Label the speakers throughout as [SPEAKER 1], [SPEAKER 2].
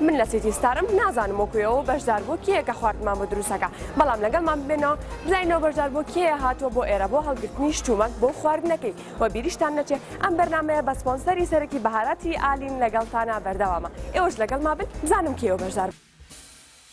[SPEAKER 1] من لە سیتی ستارم نازانم وەکو ئێوە بەشدار بۆ کێیە کە خواردمان بۆ دروستەکە بەڵام لەگەڵمان ببێنەوە بزانینەوە بەشدار بۆ کێیە هاتووە بۆ ئێرە بۆ هەڵگرتنی شتومەک بۆ خواردنەکەی و بیریشتان نەچێ ئەم بەرنمەیە بە سپۆنسەری سەرەکی بەهاراتی ئالین لەگەڵتانا بەردەوامە ئێوەش لەگەڵ ما بن بزانم کێوە بەشدار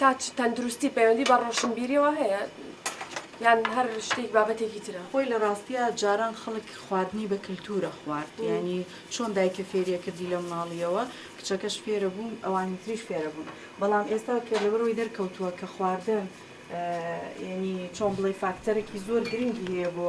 [SPEAKER 1] تاچ تەندروستی پەیوەندی بە ڕۆشنبیریەوە هەیە یان هەر شتێک بابەتێکی ترە خۆی لە ڕاستیە
[SPEAKER 2] جاران خەڵک خواردنی بە کللتورە خوارد ینی چۆن دایکە فێریە کردی لە مناڵیەوە کچەکەش فێرە بوون ئەوانی تریش فێرە بوون بەڵام ئێستا کە لەبەرەوەی دەرکەوتووە کە خواردن ینی چۆن بڵێ فاکتەرێکی زۆر گرنگی هەیە بۆ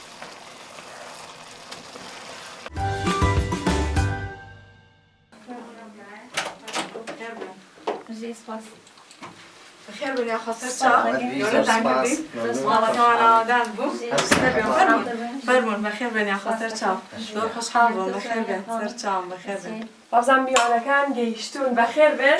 [SPEAKER 2] بەزان میوانەکان
[SPEAKER 1] گەیشتون بەخێر بێن.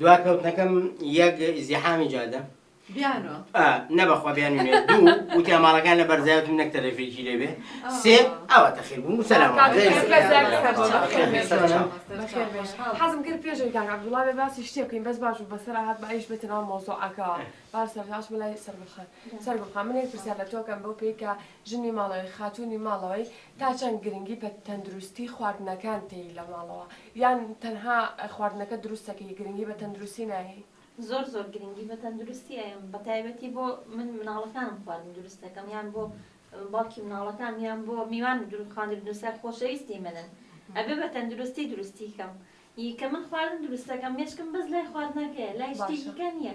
[SPEAKER 3] دواکەوتنەکەم یەک ئیزدیحامی جادە بیانۆ
[SPEAKER 2] ئا، نە بەخوا
[SPEAKER 3] بیانوو نیە دوو وتیان ماڵەکان لە بەرزایەتم نەک تەلەفێکی لێ بێ سێ ئاوا تەخیر بووم و سەلام کاک عەلەیکم. عەزیز بەس داکە سەر چاو بەخێر بێی سەر چاو.
[SPEAKER 1] بەخێر بێی خۆشحاڵم. حەزم کرد پێشن کاک عەبدوڵا بێ باسی شتێک بکەین بەس باش بوو بەسەرا هات با ئیش بێتە ناو مەوزوعەکەوە با سەرەتا ئەچمە لای سەرگوڵ خان سەرگوڵ خان من یەک پرسیار لە تۆ ئەکەم بەو پێی کە ژنی ماڵەوەی خاتوونی ماڵەوەی تا چەند گرنگی بە تەندروستی خواردنەکان تێی لە ماڵەوە یان تەنها خواردنەکە دروست دەکەی گرنگی بە تەندروستی نایەی؟ زۆر زۆر گرنگی
[SPEAKER 4] بە تەندروستی ئەیەم بەتایبەتی بۆ من مناڵەکانم خواردن دروست دەکەم یان بۆ باوکی مناڵەکانم یان بۆ میوان دروست خواردن دروست کە خۆشەویستی منن ئەبێ بە تەندروستی دروستی کەم ی کە من خواردن دروست دەکەم مێشکم بەس لای خواردنەکەیە لای شتێکی کە نیە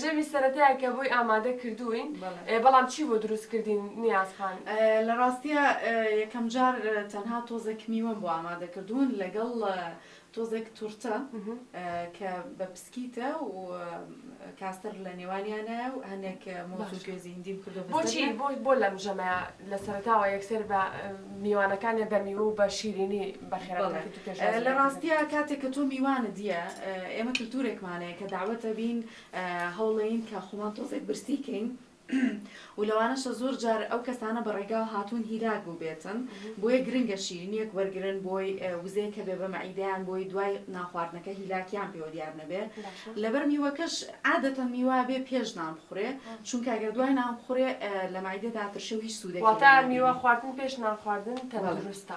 [SPEAKER 1] ژەمی سەرەتایە کە بۆی ئامادە کردووین، بەڵام چی بۆ دروست کردین نیاز خان؟ لە ڕاستیا
[SPEAKER 2] یەکەم جار تەنها تۆزێک میوەم بۆ ئامادە کردوون لەگەڵ تۆزێک تورتە کە بە پسکیتە و کاستەر لە نێوانیانایە و هەنێک مۆز و گوێزی هندیم کردو بۆچی بۆ لەم
[SPEAKER 1] ژەمەیە لە سەرەتاوە یەکسەر بە میوانەکانیان بە میوە و بە شیرینی بەڵێ لە ڕاستیا
[SPEAKER 2] کاتێک کە تۆ میوانت دیە ئێمە کلتورێکمان هەیە کە داوەت دەبین هەوڵێین کە خۆمان تۆزێک برسی کەین و لەوانەشە زۆر جار ئەو کەسانە بە ڕێگاو هاتوون هیلاک بووبێتن بۆیە گرنگە شیرینیەک وەرگن بۆی وزەیە کە بێ بە مەعیدەیان بۆی دوای ناخواردنەکە هیلاکیان پێوە دیار نەبێ لەبەر میوەکەش عادەتەن میوا بێ پێش نان بخورێ چونکە ئەگەر دوای نان بخورێ لە مەعیدەدا ترشە و هیچ سوودێکی واتا میوە خواردن
[SPEAKER 1] پێش نان خواردن تەندروستە.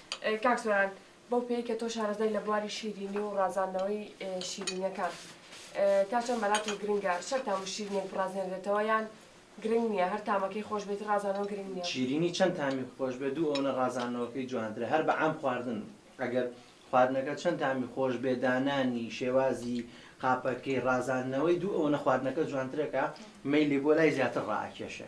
[SPEAKER 1] کاک سۆران بەو پێی کە تۆ شارەزای لە بواری شیرینی و ڕازاندنەوەی شیرینیەکان تا چەند بەلات و گرنگە شەر تام و شیرینێک بڕازێنرێتەوە یان گرنگ نییە هەر تامەکەی خۆش بێت ڕازانەوە گرنگ نییە؟ شیرینی چەند تامی
[SPEAKER 5] خۆش بێت دوو ئەونە ڕازاندنەوەکەی جوانترە هەر بە عام خواردن ئەگەر خواردنەکە چەند تامی خۆش بێ دانانی شێوازی قاپەکەی ڕازاندنەوەی دوو ئەونە خواردنەکە جوانترەکە مەیلی بۆ لای زیاتر ڕائەکێشێ.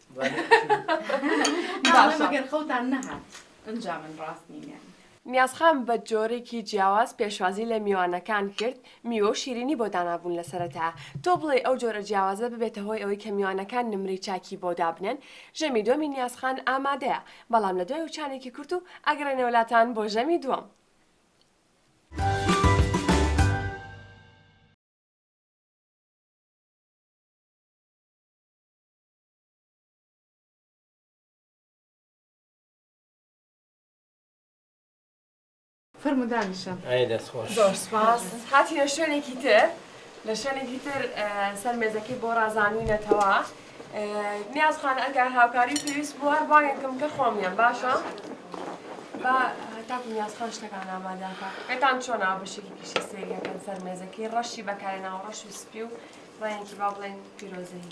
[SPEAKER 3] ناڵێم
[SPEAKER 2] ئەگەر خەوتان نەهات ئنجا من ڕاست نیم یانی. نیازخان بە
[SPEAKER 1] جۆرێکی جیاواز پێشوازی لە میوانەکان کرد، میوە و شیرینی بۆ دانابوون لە سەرەتا، تۆ بڵێی ئەو جۆرە جیاوازە ببێتە هۆی ئەوەی کە میوانەکان نمرەی چاکی بۆ دابنێن؟ ژەمی دووەمی نیازخان ئامادەیە، بەڵام لە دوای وچانێکی کورت و ئەگەڕێنەوە لاتان بۆ ژەمی دووەم.
[SPEAKER 2] فەرموو دانیشە. ئەی دەست خۆش. زۆر سوپاس.
[SPEAKER 1] هاتینە شوێنێکی تر، لە شوێنێکی تر سەر مێزەکەی بۆ ڕازانوینەتەوە. نیاز خان ئەگەر هاوکاری پێویست بوو هەر بانگێک کەم کە خۆم یەم باشە؟ با تاکو نیاز خان شتەکان ئامادە کە. پێتان چۆنە بەشێکی پیشە سەیریەکەن سەر مێزەکەی ڕەشی بەکارێناوە ڕەش و سپی و ڕەنگێکی با بڵێین پیرۆزەیی.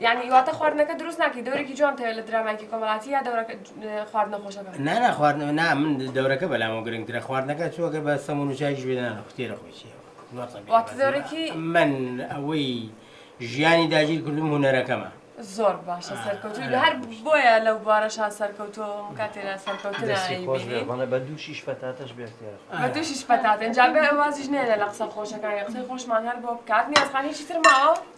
[SPEAKER 3] یانی واتە
[SPEAKER 1] خواردنەکە دروست ناکەی دەورێکی جوان تەوێ لە درامایکی کۆمەڵاتی یا دەورەکە خواردنە خۆشەکە نانا خواردن نا
[SPEAKER 3] من دەورەکە بەلامەوە گرنگترە خواردنەکە چووەگە بە سەمون و چاکیش بێنانە خوتێرە خۆشیەوە دەورێکی
[SPEAKER 1] من
[SPEAKER 3] ئەوەی ژیانی داگیر کردم هوەرەکەمە زۆر باشە
[SPEAKER 1] سەرکەوتوی هەر بۆیە لەو بوارەشا سەرکەوتۆ کاتێرا سەرکەوتنە بە دووشیش
[SPEAKER 5] پەتاتەش بێت بە دووشیش پەتاتێن
[SPEAKER 1] جا بێ وازیش نێنە لە قسە خۆشەکانی قسەی خۆشمان هەر بۆ بکات نیازخانێکی ترماوە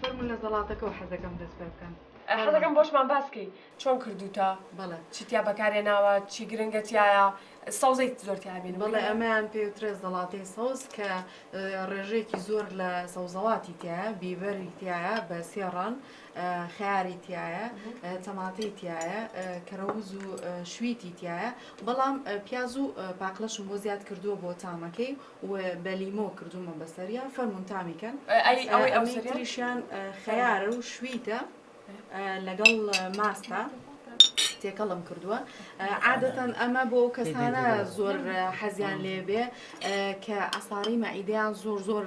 [SPEAKER 2] فەرمون لە زەڵاتەکەەوە حەزەکەم دەست پێ بکەن حەزەکەم بۆشمان
[SPEAKER 1] باسکەی چۆن کردوتە بەڵێ چیتیا
[SPEAKER 2] بەکارێ ناوە
[SPEAKER 1] چی گرنگەتیایە سەوزەی زۆر تابین بەڵێ ئەمەیان
[SPEAKER 2] پێوترێ زەڵاتی سەوز کە ڕێژەیەکی زۆر لە سەوزەڵاتی تایە بیبەری تایە بە سێڕان خەیاری تیایە تەماتەی تیایە کەرەوز و شویتی تیایە بەڵام پیاز و پاقلەشم بۆ زیاد کردووە بۆ تامەکەی و بە لیمۆ کردومە بەسەریا فەرمون تامیکەن ئەوەی ئەوریشیان خەیارە و شویتە لەگەڵ ماستە تێکەڵم کردووە عادەتەن ئەمە بۆ ئەو کەسانە زۆر حەزیان لێبێ کە ئەساڕی مەعیدیان زۆر زۆر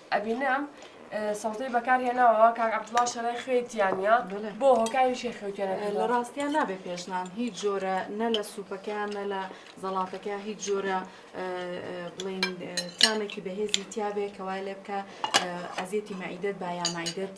[SPEAKER 1] ئەبینم سەوتەی بەکار هێناوە کاک عەبدوڵا شەرای خوێی تیانە بۆ هۆکاری شێ خوێتێنە لە ڕاستیان نابێ
[SPEAKER 2] پێشنان هیچ جۆرە نە لە سوپەکەیان نە لە زەڵاتەکە هیچ جۆرە بڵین تامێکی بەهێزی تیاابێ کەوای لێ بکە ئەزیێتی مەعیدت با یامەعیدت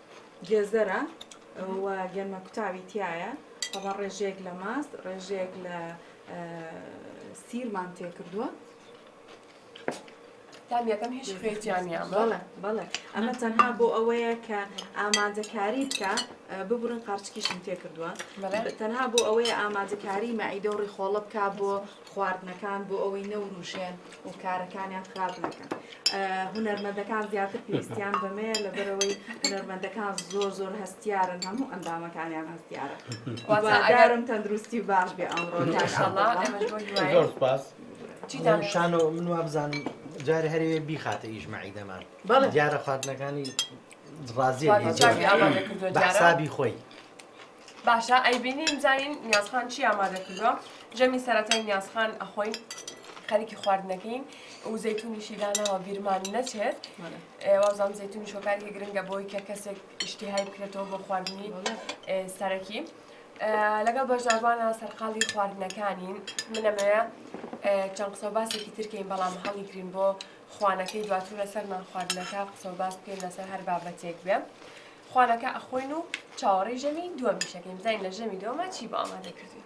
[SPEAKER 2] گێزەرە و گەنمە کوتاوی تیایە ئەوە ڕێژەیەک لە ماست ڕێژەیەک لە سیرمان تێکردووە
[SPEAKER 1] تامیەکەم هیچ خوێتیانیان بەڵێ بەڵێ
[SPEAKER 2] ئەمە تەنها بۆ ئەوەیە کە ئامادەکاری بکە ببرن قارچکیشم تێ کردووە تەنها بۆ ئەوەیە ئامادەکاری مەعیدە و ڕیخۆڵە بک بۆ خواردنەکان بۆ ئەوەی نەوروژێن و کارەکانیان خراپ نەکەن هونەرمەندەکان زیاتر پێویستیان بەمەیە لەبەرەوەی هونەرمەندەکان زۆر زۆر هەستیارن هەموو ئەندامەکانیان هەستیارە وازارم تەندروستی باش بێ ئەمڕۆ
[SPEAKER 5] شانە من وابزانم جارێ هەرەیە بیخاتە ئیژمەعی دەمان دیارە خواردنەکانی ڕازیە بەحسابی خۆی باشە
[SPEAKER 1] ئەیبینین زانین نیازخان چی ئامادە کردووە ژەمی سەرەتای نیازخان ئەخۆین خەریکی خواردنەکەین و زەتونیشی داناوە بیرمان نەچێت وازان زەتونی شۆکارێکی گرنگە بۆی کە کەسێک ئیشتیهای بکرێتەوە بۆ خواردنی سەرەکی لەگەڵ بەشداربانە سەرقاڵی خواردنەکانین منەمەیە چەند قسە باسێکی ترکەین بەڵام هەڵی گرین بۆ خوانەکەی دواتر لەسەرمان خواردنەکە قسە باس بکەین لەسەر هەر بابەتێک بێ خوانەکە ئەخۆین و چاوەڕێی ژەمی دووەمیشەکەین بزانین لە ژەمی دووەمە چی بۆ ئامادە کردوین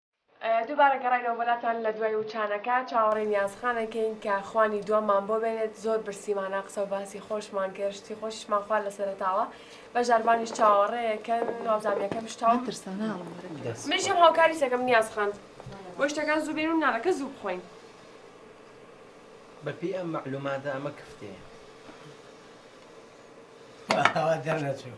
[SPEAKER 1] دووبارە گەڕاینەوە بەلاتان لە دوای وچانەکە چاوەڕێی نیازخان ئەکەین کە خوانی دووەممان بۆ بێنێت زۆر برسیمانە قسە و باسی خۆشمان کرد شتی خۆشیشمان خوارد لە سەرەتاوە بەژداربانیش چاوەڕێیەکەن وابزانم یەکەم شتە و منیشم هاوکاریت ئەکەم نیاز خان بۆی شتەکان زوو بێنین و نانەکە زوو بخۆین.
[SPEAKER 5] بە پێی ئەم مەعلوماتە ئەمە کفتەیە.
[SPEAKER 3] ئاوا دەرنەچوو.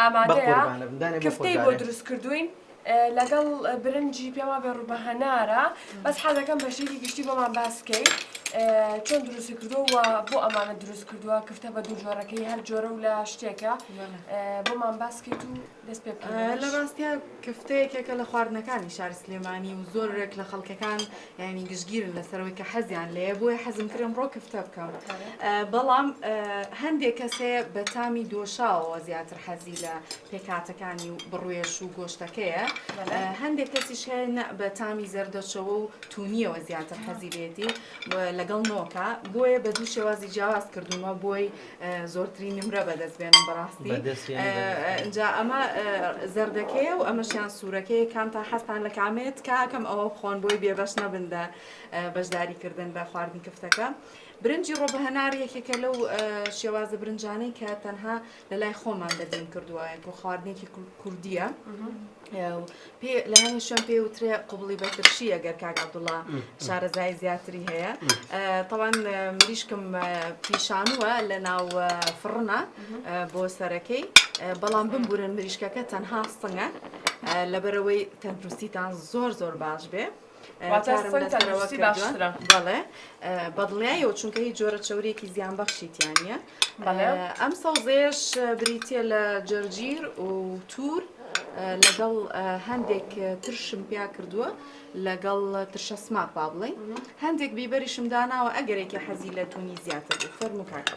[SPEAKER 1] ئامادەیە کفتەی بۆ دروست کردووین لەگەڵ برنجی پێما بێ ڕوبە هەنارە بەس حەزەکەم بەشێکی گشتی بۆمان باس بکەی چۆن دروستی کردووە بۆ ئەمانە دروست کردووە کفتە بە دوو جۆرەکەی هەر جۆرە و لە شتێکە بۆمان باسکەیت و دەست پێ لە ڕاستە
[SPEAKER 2] کفتەیەکێکە لە خواردنەکانی شار سلێمانی و زۆرێک لە خەڵکەکان یانی گشتگیرن لەسەرەوەی کە حەزیان لێ بۆیە حەزم کرم ڕۆ کفتە بکەم بەڵام هەندێک کەسێ بە تامی دۆشاوەوە زیاتر حەزی لە پێکاتەکانی و بڕێش و گۆشتەکەیە هەندێک کەسیش هەیە بە تامی زەردەچەوە و تونیەوە زیاتر حەزی لێتی لەگەڵ نۆکە بۆیە بە دوو شێوازی جیاواز کردومە بۆی زۆرترین نمرە بەدەست بێنم بەڕاستی جا ئەمە زەردەکەیە و ئەمەشیان سوورەکەی کام تا حەستان لە کامێت کاکەم ئەوە بخۆن بۆی بێبەش نەبندە بەشداری کردن بە خواردن کفتەکە برنجی ڕۆ بە هەنار یەکێکە لەو شێوازە برنجانەی کە تەنها لە لای خۆمان دەبین کردووە و خواردنێکی کوردیە. لە هەموو شوێن پێی وترێ قوبڵی بەترشی ئەگەر کاک عبدوڵا شارەزای زیاتری هەیە تاوان مریشکم پیشانوە لە ناو فڕنە بۆ سەرەکەی بەڵام بمبورن مریشکەکە تەنها سنگە لەبەرەوەی تەندروستیتان زۆر زۆر باش بێ. بەدڵنیایەوە چونکە هی جۆرە چورێکی زیان بەخشیتیانە ئەم سەوزێش بریتە لە جەرگیر و تور لەگەڵ هەندێک ترشم پیا کردووە لەگەڵ ترشە سماق با بڵێ هەندێک بیبەریشم داناوە ئەگەرێکی حەزی لە تونی زیاتر بوو فەرمو کاکە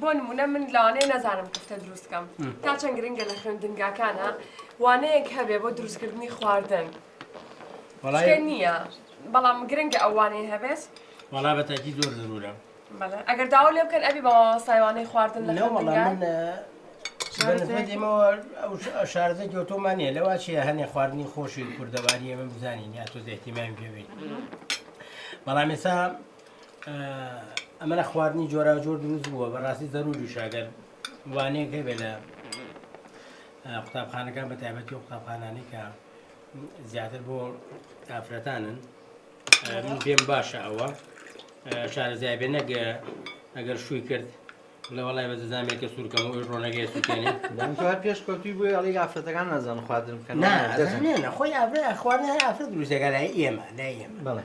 [SPEAKER 1] بۆ نموونە من لەوانەیە نەزانم کوفتە دروست بکەم، تا چەند گرنگە لە خوێندنگاکانە وانەیەک هەبێ بۆ دروستکردنی خواردن؟ وەڵای شتێ نییە، بەڵام گرنگە ئەو وانەیە هەبێت. وەڵا بە تاکی
[SPEAKER 3] زۆر زەرورە. بەڵێ ئەگەر داوا
[SPEAKER 1] لێ بکەن ئەبی بە مامۆستای وانەی خواردن لە نەوەڵا خوێندنگا؟ من ە،
[SPEAKER 3] بە نسبەت ئێمەوە ئەو ش- ئە شارەزای گەوتۆمان نییە لەوا چییە هەنێ خواردنی خۆشی کوردەواری ئێمە بزانین یا تۆزێ ئیهتیمامی پێ بین بەڵام ئێستا ئەمەە خواردنی جۆراوجۆر دروست بووە بەڕاستی زەروریشاگەر وانەیەک هەبێت لە قوتابخانەکان بە تایبەتی و قوتابخانانی کە زیاتر بۆ ئافرەتانن من پێم باشە ئەوە شارەزای بێ نەگە ئەگەر شووی کرد لەوەڵای بە دەزانێکە سوورکەم و ڕۆنەگەی سوکێنی هەر پێش
[SPEAKER 5] کەوتی بۆی ئەڵی ئافرەتەکان نازان خواردن بکەن نەخۆی
[SPEAKER 3] ئافرە خوارد ئافرە دروستەکە لای ئێمە لای ئێمە بڵێ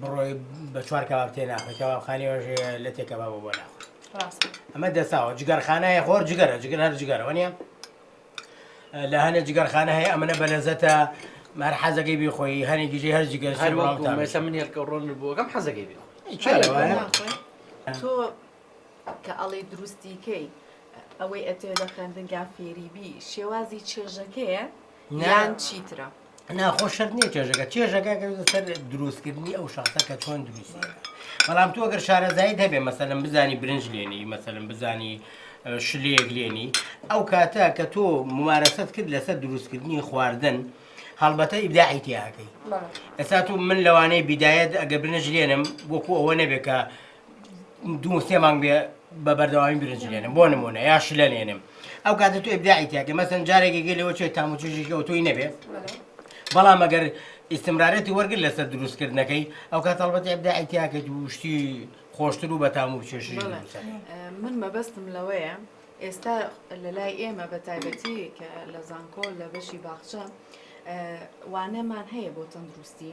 [SPEAKER 3] بڕۆی بە چوار کەباب تێ ناخۆی کەبابخانی وەژێ لە تێ کەبابە بۆ ناخۆی ئەمە دەساوە جگەرخانایە خۆر جگەرە جگەر هەر جگەرەوە نیە لە هەنێ جگەرخانە هەیە ئەمەە بەلەزەتە مار حەزەکەی بیخۆی هەنێ گیژی هەر جگەر هەر مەسە من هێلکە
[SPEAKER 5] ڕۆن بووەکەم حەزەکەی بێ
[SPEAKER 2] تۆ
[SPEAKER 5] کە
[SPEAKER 2] ئەڵێ دروستیکەی ئەوەی ئەتێ لە خوێندنگا فێریبی شێوازی چێژەکەیە یان چیترە؟ نا خۆ شەرت نییە
[SPEAKER 3] چێژەکە چێژەکە کەوتە سەر دروستکردنی ئەو شخصە کە چۆن دروست بەڵام تو ئەگەر شارەزایی هەبێ مەسەلم بزانی برنج لێنی مەسەلم بزانی شلەیەک لێنی ئەو کاتە کە تۆ ممارەسەت کرد لەسەر دروستکردنی خواردن هەڵبەتە ئیبداعی تیاکەی ئێستا تو من لەوانەیە بیدایەت ئەگە برنج لێنم وەکو ئەوە نەبێت کە دوو سێ مانگ بێ بە بەردەوامی برنج لێنم بۆ نمونە یا شلە لێنم ئەو کاتە تو ئبداعی تیاکە مەسن جارێکێکی لەوە چێت تام و چێژێکی ئەوتۆی نەبێ بەڵام ئەگەر ئیسمرارەتی وەرگر لەسەر دروستکردنەکەی ئەو کات هەڵبەت ئبداعی تیاکە دووشتی خۆشتر و بەتام و چێژی بەڵێ. دروستە من
[SPEAKER 2] مەبەستم لەوەیە ئێستا لە لای ئێمە بە تایبەتی کە لە زانکۆ لە بەشی باخچە وانەمان هەیە بۆ تەندروستی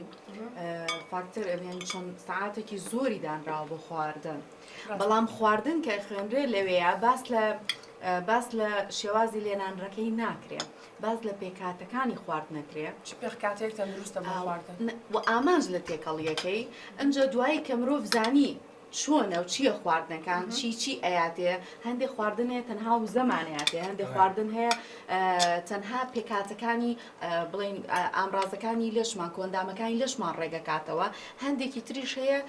[SPEAKER 2] فاکتەر ئەێن چەند سعاتێکی زۆری دانراوە بۆ خواردن بەڵام خواردن کە خوێنرێ لەوەیە باس لە باس لە شێوازی لێنانڕەکەی ناکرێت باز لە پێکاتەکانی خوارد نەکرێت چ پێکاتێک تەندروستە
[SPEAKER 1] بۆ خواردن و ئامانج لە
[SPEAKER 2] تێکەڵیەکەی ئەجا دوایی کە مرۆڤ زانی چۆنە و چیە خواردنەکان چی چی ئەیاتێ هەندێک خواردن هەیە تەنها وزەمان ئەیاتێ هەندێک خواردن هەیە تەنها پێکاتەکانی بڵین ئامرازەکانی لەشمان کۆندامەکانی لەشمان ڕێگەکاتەوە هەندێکی تریش هەیە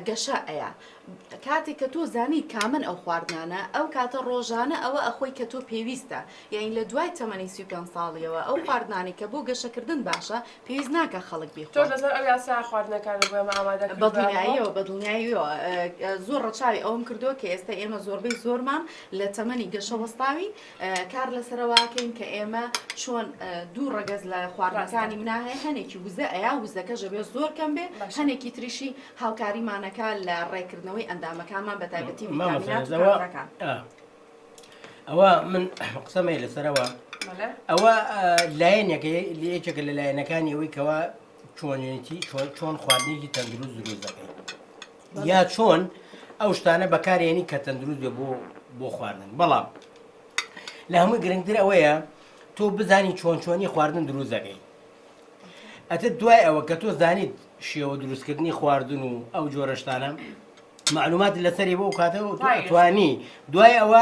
[SPEAKER 2] گەشە ئەیە کاتێک کە تۆ زانی کامن ئەو خواردنانە ئەو کاتە ڕۆژانە ئەوە ئەخۆی کە تۆ پێویستە یاین لە دوای تەمەنی سی پێ ساڵیەوە ئەو خواردنانی کە بۆ گەشەکردن باشە پێویست ناکا خەڵک بیخوا. تۆش لەسەر ئەو یاسایە
[SPEAKER 1] خواردنەکانت بۆ ئێمە ئامادە کردووە؟ بەدڵنیاییەوە،
[SPEAKER 2] بەدڵنیاییەوە. زۆر ڕەچاوی ئەوەم کردووە کە ئێستا ئێمە زۆربەی زۆرمان لە تەمەنی گەشە وەستاوین، کار لەسەرەوە ئەکەین کە ئێمە چۆن دوو ڕەگەز لە خواردنەکانی منا هەیە، هەنێکی وزە ئەیا، وزەکەش ئەبێ زۆر کەم بێ، هەنێکی تریشی هاوکاریمان ئەکا لە ڕێکردنەوەی ئەندامەکانمان بەتایبەتی ڤیتامینات و کانزاکان.
[SPEAKER 3] ئەوە من قسەمە لەسەرەوە ئەوە لایەنێکە یەکێکە لە لایەنەکانی ئەوەی کەەوە چۆنێتی چۆن خواردنێکی تەندروست دروست دەکەی یا چۆن ئەو شتانە بەکارێنی کە تەندروست بێ بۆ بۆ خواردن بەڵام لە هەمووی گرنگتر ئەوەیە تۆ بزانی چۆن چۆنی خواردن دروست دەکەی ئەتر دوای ئەوە کە تۆ زانیت شێوە دروستکردنی خواردن و ئەو جۆرە شتانە معلومات لەسەری بۆ کاتەوە توانی دوای ئەوە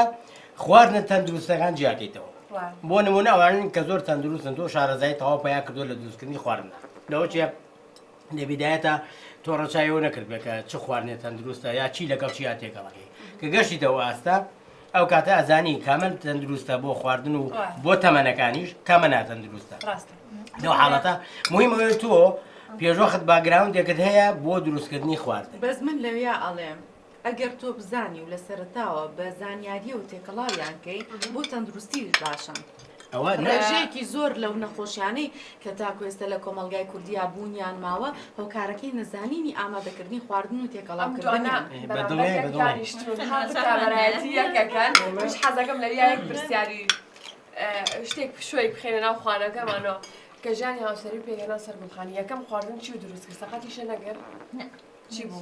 [SPEAKER 3] خواردنە تەندروستەکان جیاکەیتەوە بۆ نمونە ئەوانن کە زۆر تەندروستن تۆ شارەزای تەواو پیا کردو لە دروستکردنی خواردن لەوە چیە لە بیدایەتا تۆ ڕەچاوی ئەوە نەکردبێت کە چ خواردنێ تەندروستە یا چی لەگەڵ چیا تێکەڵەکەی کە گەشتیتەوە ئاستا ئەو کاتە ئەزانی کامە تەندروستە بۆ خواردن و بۆ تەمەنەکانیش کامە ناتەندروستە ڕاستە لەو حاڵەتە مهم ئەوێ تۆ پێشوەخت باگراوندێکت هەیە بۆ دروستکردنی خوارد بەس من لەویا
[SPEAKER 2] ئەڵێم ئەگەر تۆ بزانی و لە سەرەتاوە بە زانیاریەوە تێکەڵاویان کەی بۆ تەندروستیش باشن. ئەوە نە. ڕێژەیەکی زۆر لەو نەخۆشیانەی کە تاکو ئێستا لە کۆمەڵگای کوردیا بوونیان ماوە هۆکارەکەی نەزانینی ئامادەکردنی خواردن و تێکەڵاو کردنیان. ئەم دوانە بەراورد لە گیانی شتون هەم بتابەرایەتی یەک
[SPEAKER 1] ئەکەن منیش حەزەکەم لەویا یەک پرسیاری شتێک پشووی بخەینە ناو خوانەکەمانەوە کە ژانی هاوسەری پێکهێنا سەر گوڵخانی یەکەم خواردن چی و دروست کرد سەقەتیشە نەگرت؟ نە چی بوو؟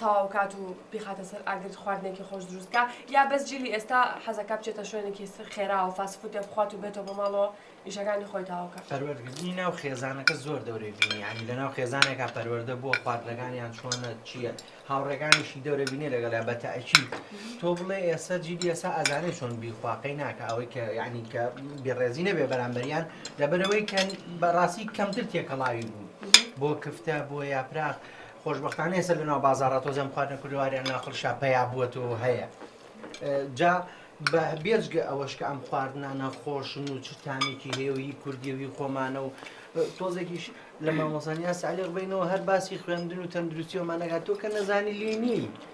[SPEAKER 1] تەواو کات و بیخاتە سەر ئاگر خواردنێکی خۆش دروستکە یا بەس جیلی ئێستا حەزەکە بچێتە شوێنێکی خێراوە فاسفوتێ بخوات و بێتەوە بۆ ماڵەوە ئیشەکانی خۆی تاوکە پەروەردگردنی ناو
[SPEAKER 5] خێزانەکە زۆر دەورەی بینیانی لە ناو خێزانێکا پەروەەردە بووە خواردنەکانیان چۆنە چییە هاوڕێگانیشی دەورە بینێ لەگەڵ بە تاکی تۆ بڵێ ئێستا جیلی ئێسا ئازانەی چۆن بیخواقەی ناکە ئەوەی کە یعنی کە بێڕێزی نەبێ بەرامبەریان لەبەرەوەی کە بەڕاستی کەمتر تێکەڵاوی بوون بۆ کفتە بۆ یاپراخ خۆشبەختانە ئێستا لەناو بازارە تۆزێم خواردنە کوردەواریان ناخڵشا پیا بووەت و هەیە جا بە بێجگە ئەوەش کە ئەم خواردنانە خۆشن و چ تامێکی هێوی کوردیوی خۆمانە و تۆزێکیش لە مامۆسانیا سالی ڕبینەوە هەر باسی خوێندن و تەندروستیەوەمانەگات تۆ کە نەزانی لێنی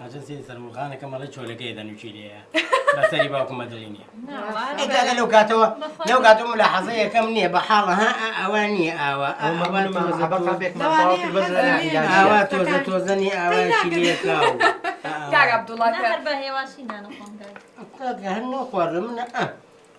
[SPEAKER 3] ئەجە سێ سەرموخانەکە مەڵێ چۆلەکەی دەنووکی لێیە بەسەری باوکم مەدڵی نییە ئەگەگە لەو کاتەوە لەو کاتە ملا حەزە یەکەم نییە بە حاڵە ها ئەوە نییە ئاوا ئاوا تۆزە تۆزەنی ئاواشی لێکا هەر بە هێواشی نانەخۆم هەر نۆ خواردە منە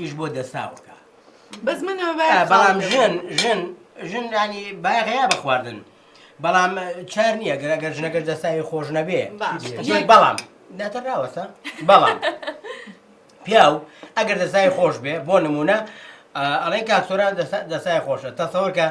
[SPEAKER 3] ئیش بۆ دەساوەکە بەس من
[SPEAKER 2] بەڵام ژن
[SPEAKER 3] ژن ژن ینی باغەیە بە خواردن بەڵام چار نییە گەر ئەگەر ژنەگەر دەساوی خۆش نەبێ بەڵام ناتەراوەسە بەڵام پیاو ئەگەر دەسای خۆش بێ بۆ نمونە ئەڵێن کاکسۆران دەسای خۆشە تەسەوەکە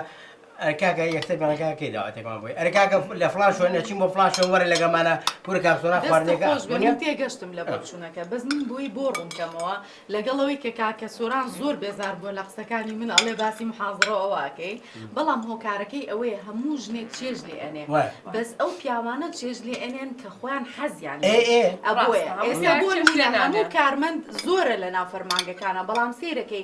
[SPEAKER 3] ئەرە کاکە یەکسەر بەڵێ کاکە کەی داواتێکمان بۆی ئەرە کاکە لە فڵان شوێن ئەچین بۆ فڵان شوێن وەرە لەگەڵمانە کورە کاک سۆران دەستت خواردنێکە خۆش بێ من ئەخوێنێ تێگەشتم
[SPEAKER 2] لە بۆچوونەکە بەس من بۆی بۆ ڕوونکەمەوە لەگەڵ ئەوەی کە کاکە سۆران زۆر بێزار بووە لە قسەکانی من ئەڵێ باسی محازڕە و ئەوە ئەکەی بەڵام هۆکارەکەی ئەوەیە هەموو ژنێک چێژ لێ ئەنێ وە بەس ئەو پیاوانە چێژ لێ ئەنێن کە خۆیان حەزیان لێ ئێ ئێ ئەبووە ڕاستە هەموو ئێستا پیاوێک بۆ چێژ لێ نموونە هەموو نانێن کارمەند زۆرە لە ناو فەرمانگەکانە بەڵام سەیرەکەی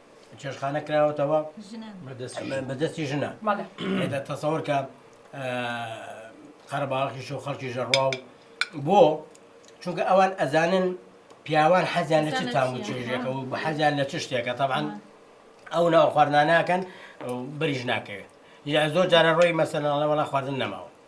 [SPEAKER 3] چێشخانە کراوەتەوە بە دەستی ژنە تەسەور کە قەرەباڵخیش و خەڵکی ژەڕوا و بۆ چونکە ئەوان ئەزانن پیاوان حەزیان لە چ تام و چێژێکە و حەزیان لە چ شتێکە تەبان ئەو ناو خواردناناکەن بریش ناکەوێت یا زۆر جارە ڕۆی مەسەنەڵەوەڵا خواردن نەماوە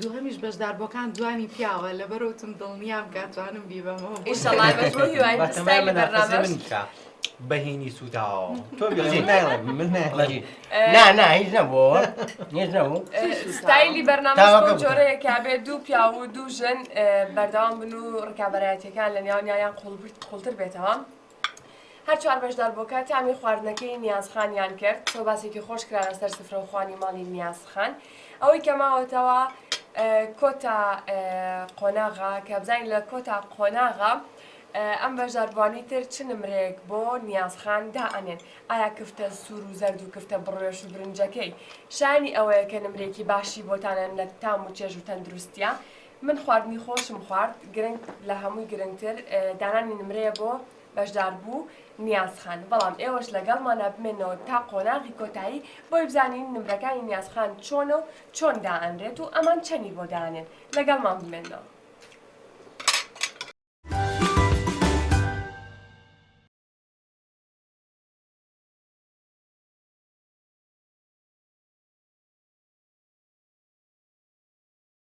[SPEAKER 2] دووهەمیش بەشداربووەکان جوانی پیاوە لەبەرۆتم دڵنیام
[SPEAKER 5] کاتوانم بیبەمەوە
[SPEAKER 3] بەهینی سووداوە ستایلی
[SPEAKER 1] بەرنامە جۆرەیەکە بێ دوو پیا و دوو ژن بەردەوام بن و ڕکابەرایەتەکان لە نێوانیان قوڵتر بێتەوە هەر چوار بەشدار بۆکە تامی خواردنەکەی نیاز خانیان کرد تۆ باسێکی خۆش کرانە سەر سفرە و خوانی ماڵی نیاز خان ئەوەی کە ماوەتەوە کۆتا قۆناغا کە بزانین لە کۆتا قۆناغا ئەم بەشداربووانی تر چ نمرەیەک بۆ نیازخان دا ئەنێن ئایا کفتە سوور و زەرد و کفتە بڕێش و برنجەکەی شانی ئەوەیە کە نمرێکی باشی بۆتانەن لە تام و چێژ و تەندروستە من خواردنی خۆشم خوارد گرنگ لە هەمووی گرنگتر دانانی نمرەیە بۆ بەشداربوو نیازخان بەڵام ئێوەش لەگەڵمانە بمێنەوە تا قۆناغی کۆتایی بۆی بزانین نمرەکانی نیازخان چۆنە و چۆن دائەنرێت و ئەمان چەنی بۆ دانێن لەگەڵمان بمێنەوە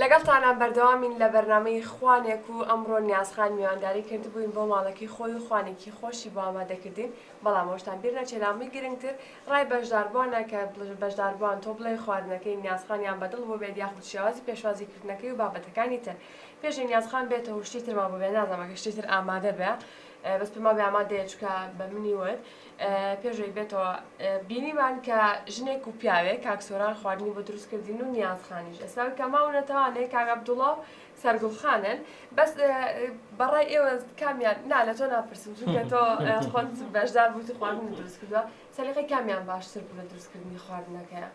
[SPEAKER 1] لەگەڵتانان بەردەوامین لە بەرنامەی خوانێک و ئەمڕۆ نیاز خان میوانداری کردبووین بۆ ماڵەکەی خۆی و خوانێکی خۆشی بۆ ئامادە کردین بەڵام ئەوەشتان بیر نەچێ لە هەمووی گرنگتر ڕای بەشداربووانە کە بەشداربووان تۆ بڵێ خواردنەکەی نیاز خانیان بە دڵ بووبێت یاخود شێوازی پێشوازی کردنەکەی و بابەتەکانی تر پێشی نیاز خان بێتە و شتی ترمان بۆ بێ نازانم ئەگەر شتی تر ئامادە بێ بەس پێمان بێ ئامادەیە چونکە بە منی وت پێش ئەوەی بێتەوە بینیمان کە ژنێک و پیاوێک کاک سۆران خواردنی بۆ دروست کردین و نیازخانیش ئێستا کە ماو نەتەوانێ کاک عەبدوڵڵا و سەرگوڵخانن بەس بەڕای ئێوە کامیان نا لە تۆ ناپرسم چونکە تۆ خۆت بەشدار بووی خواردن دروست کردووە سەلیقەی کامیان باشتر بوو لە دروستکردنی خواردنەکەیان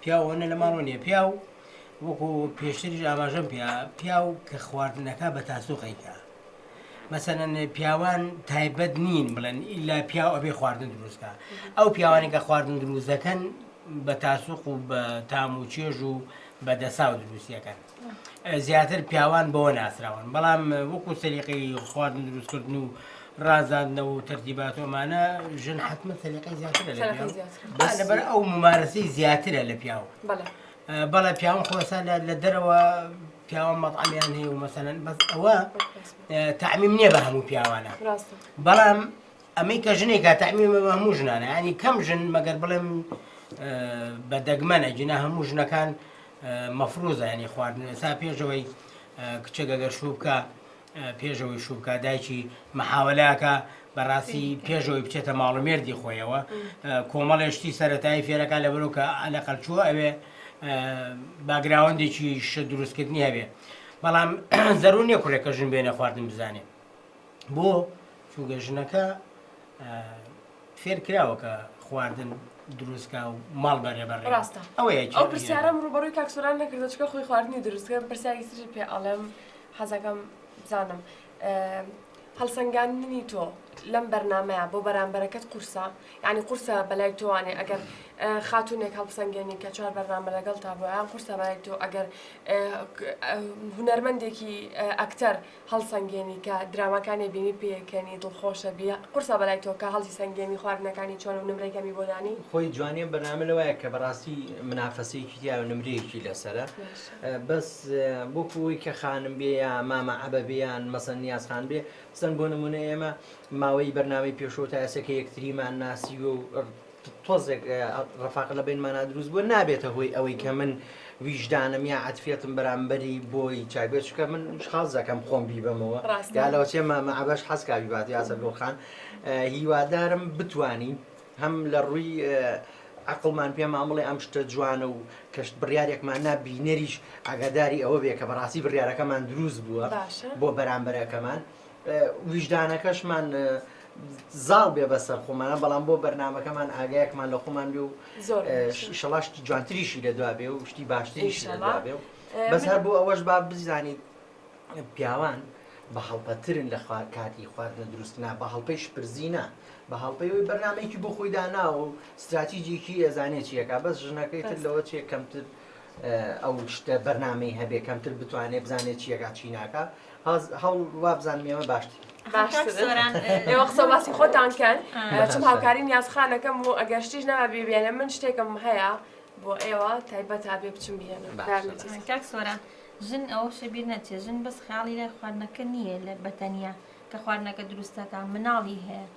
[SPEAKER 3] پیاو ئەوەنە لە ماڵەوە نیە پیاو وەکو پێشتریش ئاماژەم پێ پیاو کە خواردنەکە بە تاسوقیکە مەسەن پیاوان تایبەت نین بڵێن ئیلا پیاو ئەبێ خواردن دروستکە ئەو پیاوانی کە خواردن دروست دەکەن بە تاسوق و بە تام و چێژ و بە دەسا و دروستیەکەن زیاتر پیاوان بەوە ناسراون بەڵام وەکو سەلیقەی خواردن دروست کردن و ڕازاندنەوە و تەرتیبات و ئەمانە ژن حتممە سەلیقەی زیاترە لە سەرەکە پیاو زیاتر بە بەس لەبەر ئەو ممارەسەی زیاترە لە پیاو بەڵێ بەڵێ پیاوان خۆسان لە لە دەرەوە پیاوان مەطعمیان هەیە و مەسەلەن بەس ئەوە بەکەس تعمیم نییە بە هەموو پیاوانە ڕاستە بەڵام ئەمەی کە ژنێکە تەعمیمە بە هەموو ژنانە ینی کەم ژن مەگەر بڵێم بە دەگمەنە جنا هەموو ژنەکان مەفروزە ینی خواردن ئێستا پێشەوەی کچەگەگەر شوو بکە پێشەوەی شووکە دایکی مححاولەکە بەڕاستی پێشەوەی بچێتە ماڵومێردی خۆیەوە کۆمەڵێشتی سەتایی فێرەکە لە بەرۆکە لە قەلچووە ئەوێ باگراوەندێکی شە دروستکردنی هەبێ بەڵام زەرو نیە کوڕێکە ژن بێنە خواردن بزانێ بۆ؟ چونکە ژنەکە فێرکراوە کە خواردن دروستکە و ماڵ بەرێ بەڕێ ڕاستە ئەوەیە ئەو
[SPEAKER 1] پرسیارم ڕوبەڕووی کاکسۆران نەکردە چکە خۆی خواردنی دروستکە پرسیاری تری پێ ئەڵێم حەزەکەم بزانم هەڵسەنگاندنی تۆ لەم بەرنمەیە بۆ بەرامبەرەکەت قورسە یعنی قورسە بەلای تۆوانێ ئەگەر خاتونێک هەڵسەنگێنی کە چوار بەرنامە لەگەڵ تا بۆیان قورسە بەلای تۆ ئەگەر هونەرمەندێکی ئەکتەر هەڵسەنگێنی کە دراماکانێ بینی پێکەنی دڵخۆشە بی قورسە بەلای تۆ کە هەڵی سەنگێمی خواردنەکانی چۆنە و نمرەی کەمی بۆ دانی؟ خۆی جوانیە بەرنامە
[SPEAKER 5] لەوایە کە بەڕاستی منافەسەیەکی تیایە و نمرەیەکی لەسەرە بەس بۆ کۆ ئەوەی کە خانم بێ یا مامە عەبە بێ یان مەسەن نیاز خان بێ بزن بۆ نمونە ئێمە ماوەی بەرنامەی پێشوو تا ئێسە کە یەکتریمان ناسیوە و تۆزێک ڕەفاقە لەبەینمانا دروست بووە نابێتە هۆی ئەوەی کە من ویژدانم یا عەتفیەتم بەرامبەری بۆی چاک بێت چونکە من شخاڵ دەکەم خۆم بیبەمەوە ڕاستە. یا لەوەچێ مەعبەش حەزکا بیبات یاسە گوڵخان اه، هیوادارم بتوانین هەم لە ڕووی اه، عەقڵمان پێمان بڵێ ئەم شتە جوانە و کەشت بڕیارێکمان نا بینەریش ئاگاداری ئەوە بێ کە بەڕاستی بڕیارەکەمان دروست بووە باشە. بۆ بەرامبەرەکەمان اه، ویژدانەکەشمان اه، زاڵ بێ بەسەر خۆمانە بەڵام بۆ بەرنمەکەمان ئاگایەکمان لە خۆمان بێ و
[SPEAKER 1] شڵا شتی
[SPEAKER 5] جوانتریشی لە دوا بێ و شتی باشتریش لە دوا بێ و بەس هەر بۆ ئەوەش با بزانیت پیاوان بە هەڵپەترن لە خوار کاتی خواردنە دروستنا بە هەڵپەی شپرزینە بە هەڵپەیەوەی بەرنمەیەکی بۆ خۆی داناوە و استراتیجێکی ئەزانێت چیەکە بەس ژنەکەی تر لەوە چێ کەمتر ئەو شتە بەرنمەی هەبێ کەمتر بتوانێت بزانێت چیەکە چیناکە هاز هەوڵ وابزانم ئێمە باشترین. باشترن. کاک
[SPEAKER 1] سۆران، اه، ئێوە قسە و باسی خۆتان کەن اه، باشە. چون هاوکاری نیاز خانەکەم و ئەگەر شتیش نەما بیبێنم من شتێکم هەیە بۆ ئێوە تایبەت ئەبێ بچم بیێنم باشە. باشە. باشە. اه، کاک سۆران،
[SPEAKER 4] ژن ئەوە شە بیر نەچێ ژن بەس خەیاڵی لای خواردنەکە نییە لە بە تەنیا کە خواردنەکە دروست دەکا مناڵی هەیە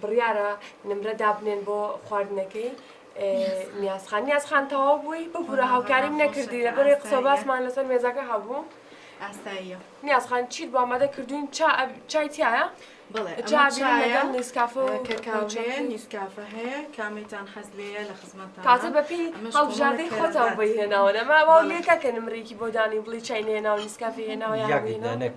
[SPEAKER 1] بڕیارە نمرە دابنێن بۆ خواردنەکەی نیازخان نیازخان تەواو بووی ببوورە هاوکاریم نەکردی لە بەرێ قسە باسمان لەسەر مێزەکە هەبوو ئاساییە
[SPEAKER 2] نیازخان چیت
[SPEAKER 1] بۆ ئامادە کردوین چای تایە
[SPEAKER 2] بڵێ نیسکافە
[SPEAKER 1] نیسکافە هەیە
[SPEAKER 2] کامیتان حەز لەیە لە خزمەت تازە بەپی
[SPEAKER 1] هەڵبژاردەی خۆتان بۆی هێناوە نەما وا لێکە کە نمرێکی بۆ دانی بڵی چای نێناو نیسکافی هێناوە یاگەدانەک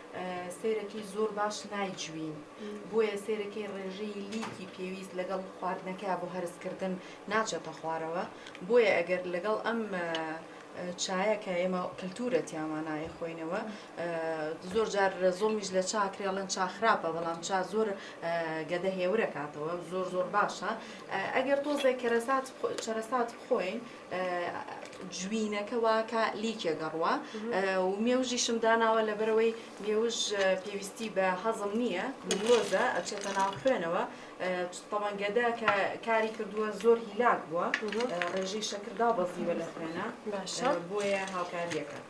[SPEAKER 2] سێرەکەی زۆر باش نایجوین بۆیە سێرەکەی ڕێژەی لیکی پێویست لەگەڵ خواردنەکە بۆ هەرسکردن ناچێتە خوارەوە بۆیە ئەگەر لەگەڵ ئەم چایە کە ئێمە کللتورە تیامانایە خۆینەوە زۆر جار زۆمیش لە چاکرێڵەن چاخراپە بەڵام چا زۆر گەدە هێورە کاتەوە زۆر زۆر باشە ئەگەر تۆزێک کەرەسات چەرەسات خۆین جوینەکە واکا لیکێ گەڕوە و مێوژیشم داناوە لەبەرەوەی مێوژ پێویستی بە هەزم نییە گلۆزە ئەچێتە ناو خوێنەوە تەوانگەدە کە کاری کردووە زۆر هیلاک بووە ڕێژەی شەکردا بەزیوە لە خوێنە باشە بۆیە هاوکاریەکەت.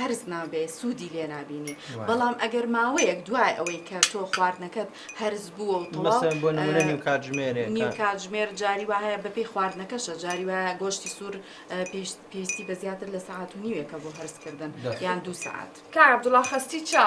[SPEAKER 2] هەرس نابێ سوودی لێ نابینی بەڵام ئەگەر ماوەیەک دوای ئەوەی کە تۆ خواردنەکەت هەرس بووە و تەواو مەسەن بۆ نمونە نیو کاتژمێرێ نیو کاتژمێر جاری وا هەیە بەپێی خواردنەکەشە جاری وا گۆشتی سوور پێویستی بە زیاتر لە سەعات و نیوێکە بۆ هەرسکردن یان دوو
[SPEAKER 1] سەعات
[SPEAKER 2] کاک عەبدوڵا خەستی چا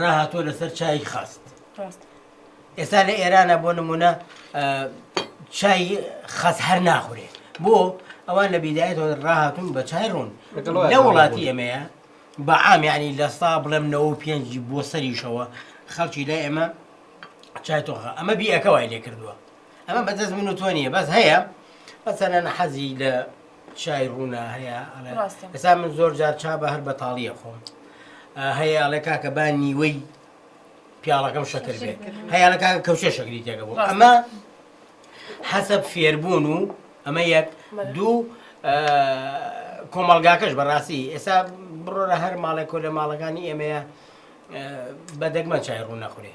[SPEAKER 3] ڕاهاتوە لەسەر چای خاست
[SPEAKER 1] ئێستا لە
[SPEAKER 3] ئێرانە بۆ نمونە چای خەس هەر ناخورێت بۆ ئەوان لە بیدایەت ڕاهاتون بە چای ڕوون لە وڵاتی ئەمەیە بە ئامیانی لە سا بڵێم نەوە پێنج بۆ سەریشەوە خەڵکی لای ئێمە چای تۆخە ئەمە بیەکە وای لێ کردووە ئەمە بەدەست من و تۆ نیە بەس هەیە بەسەنە حەزی لە چای ڕوونا هەیە ئەڵێ ڕاستە. ئێستا من زۆر جار چا بە هەر بەتاڵیە خۆم آه، هەیە ئەڵێ کاکە با نیوەی پیاڵەکەم شەکر بێ شەکر. هەیە ئەڵێ کاکە کەوچێ شەکری تێکە بوو ڕاستە. ئەمە حەسەب فێربوون و ئەمە یەک بەڵێ. دوو آه، کۆمەڵگاکەش بەڕاستی ئێستا بڕۆرە هەر ماڵێک کۆ لە ماڵەکانی ئێمەیە آه، بە دەگمەن چای ڕوو نەخورێ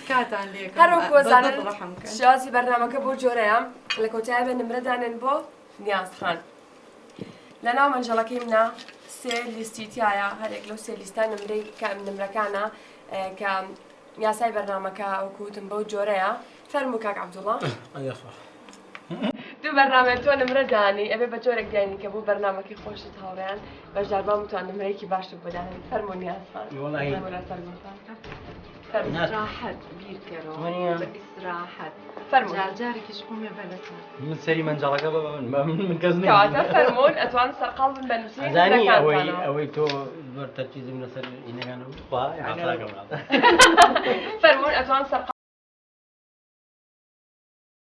[SPEAKER 2] تکاتان لێ هەر وەک وەزانن
[SPEAKER 1] شێوازی بەرنامەکە بۆ جۆرەیە لە کۆتایە بە نمرە دانێن بۆ نیاز خان لە ناو مەنجەڵەکەی منە سێ لیستی تایە هەرێک لەو سێ لیستان نمرەی کام نمرەکانە کە یاسای بەرنمەکە وەکوتم بەو جۆرەیە فەرمو کاک عبدوڵڵە دوو بەرنامەی تۆ نمرە دانی ئەبێ بە جۆرێک دیانی کە بۆ بەرنامەکەی خۆشت هاوڕێیان بەشداربان بتوان نمرەیەکی باشت بۆ دانێن فەرموو نیازبان وەڵایی. فەرموو
[SPEAKER 2] لەسەر گوڵتان فەرموو. ناز. ئیسراحەت بیرکەرەوە تمانیە. بە ئیسراحەت فەرموو. جار
[SPEAKER 5] جارێکیش قومێ بە لەسەر من سەری مەنجەڵەکە بە من بە من من کەس کەواتە نییە فەرموون
[SPEAKER 1] ئەتوان سەرقاڵ بن بە نووسینی ئەزانی ئەوەی
[SPEAKER 3] نمرەکانتانەوە ئەوەی تۆ زۆر تەرکیزم لەسەر ئینەکان و خوا یعنی ئاساکەم
[SPEAKER 1] فەرموون ئەتوان سەرقاڵ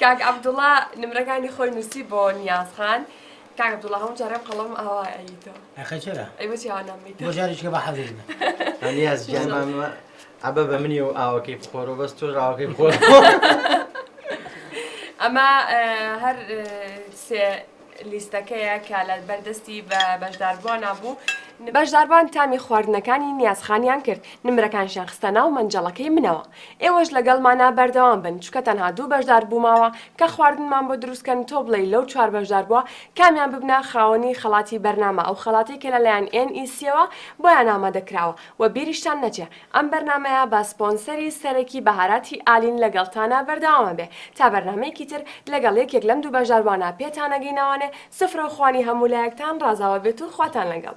[SPEAKER 1] کاک عبدوڵا نمرەکانی خۆی نووسی بۆ نیاز خان کاک عبدوڵا هەموو جارێ قەڵەم ئاوا ئەیتۆ ئەخە چرا ئەی بۆ
[SPEAKER 3] چیاوە نامیتۆ بۆ
[SPEAKER 1] جارێکە بە حەزی
[SPEAKER 3] بێ. ئەنیاز جان
[SPEAKER 5] ماشاءاللە. مامە عەبە بە منی و ئاوەکەی بخۆرەوە بەس تۆ ڕاوەکەی بخۆر
[SPEAKER 1] ئەمە ئە، هەر ئە، سێ لیستەکەیە کە لە بەر دەستی بەشداربووانا بوو. بەشداربان تامی خواردنەکانی نیازخانیان کرد، نمرەکانشیان خستە ناو مەنجەڵەکەی منەوە. ئێوەش لەگەڵمانا بەردەوام بن، چونکە تەنها دوو بەشداربوو ماوە کە خواردنمان بۆ دروست کەن، تۆ بڵێی لەو چوار بەشداربووە کامیان ببنە خاوەنی خەڵاتی بەرنامە، ئەو خەڵاتەی کە لەلایەن ئێن ئی سییەوە بۆیان ئامادە کراوە و بیریشتان نەچێ ئەم بەرنامەیە بە سپۆنسەری سەرەکی بەهاراتی ئالین لەگەڵتانە بەردەوامە بێ تا بەرنامەیەکی تر لەگەڵ یەکێک لەم دوو بەشداربوانە پێتانەگەینەوانێ سفرەو خوانی هەموو لایەکتان ڕازاوە بێت و خواتان لەگەڵ.